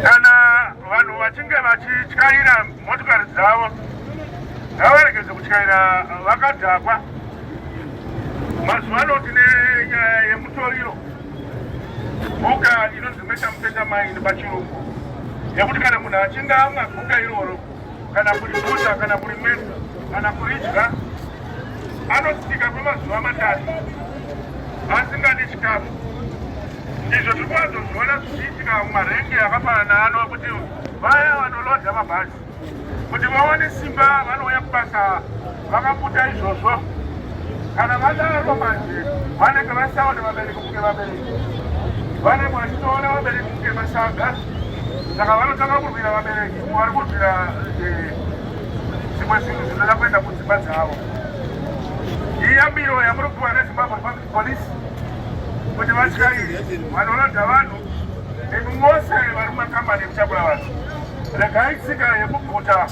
Kana vanhu vachinge vachityaira motokari dzavo ngavaregedze kutyaira vakadhakwa. Mazuva ano tine nyaya yemutoriro guka inonzi metamutetamai nepachirungu yekuti kana munhu achinge amwa guka iroro kana kuripfuta kana kurimwesa kana kuridya anosika kwemazuva matatu asingadi chikafu izvo tiri kuwadzozviona zvichiitika mumarenge akafanana ano kuti vaya vanolodza mabhazi kuti vawane simba vanouya kubasa vakabuta izvozvo kana vadaro manje vanenge vasaona vabereki kunge vabereki vanenge vachitoona vabereki kunge masaga saka vanotanga kurwira vabereki vari kuitira eh, zvimwe zvinhu zvinoda kuenda kudzimba dzavo iyambiro yamuri kupiwa nezimbabwe public police kuti vatyairi vanorodha vanhu imi mose vari mumakambani ekutakura vanhu regai tsika yekuguta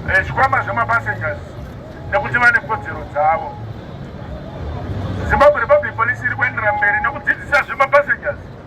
eh, zvikwama zvemapassengers nekuti vane kodzero dzavo zimbabwe republic police iri kuenderera mberi nekudzidzisa zvemapassengers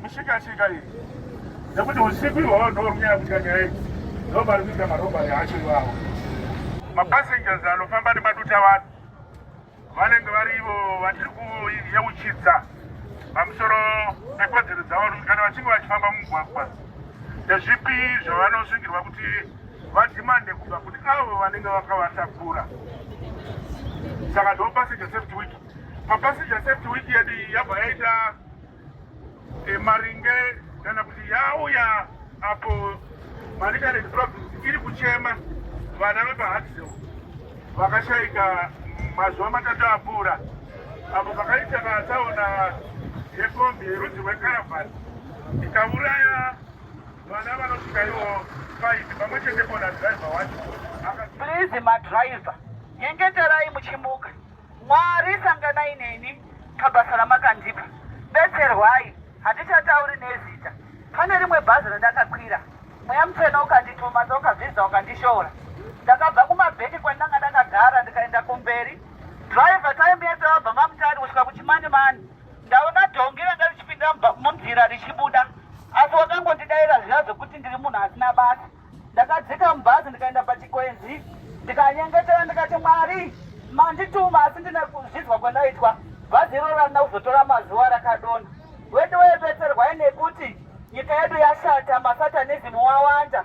Mushikashika iyi nekuti usiku ihwawo ndorunyaya kuita nyaya idzi ndopari kuita marobari acho iwawo. Mapassengers anofamba nemaduta vanhu vanenge vari ivo vatiri kuyeuchidza pamusoro pekodzero dzavo kuti kana vachinge vachifamba mumugwagwa ndezvipi zvavanosungirwa kuti vadhimande kubva kune avo vanenge vakavatakura saka ndo passenger safety week papassenger safety week yedu yabva yaita e, maringe kana kuti yauya apo manicaland province iri kuchema vana vepahadsel vakashaika mazuva matatu apfuura apo pakaita vatsaona yekombi yerudzi rwekaravhani ikauraya vana vanosvika ivo faiti pamwe chete kona driver wacho please madriver nyengeterai muchimuka Mwari sanganai neni pabasa ramakandipa. Betserwai, handichatauri nezita. Pane rimwe bhazi randakakwira, mweya mutsvene ukandituma ndokazvidza ukandishora. Ndakabva kumabheki kwandanga ndakagara ndikaenda kumberi. Driver taimbiya tabva mamutari kusvika kuchimani mani. Ndaona dhongi ranga richipinda munzira richibuda. Asi wakangondidaira zviya zvekuti ndiri munhu asina basa. ndakadzika mubhazi ndikaenda pachikwenzi ndikanyengetera ndikati mwari mandituma asi ndine kuzvidzwa kwandaitwa bhazi iroro randina kuzotora mazuva rakadona wedu webetserwai nekuti nyika yedu yashata masatanizimu wawanda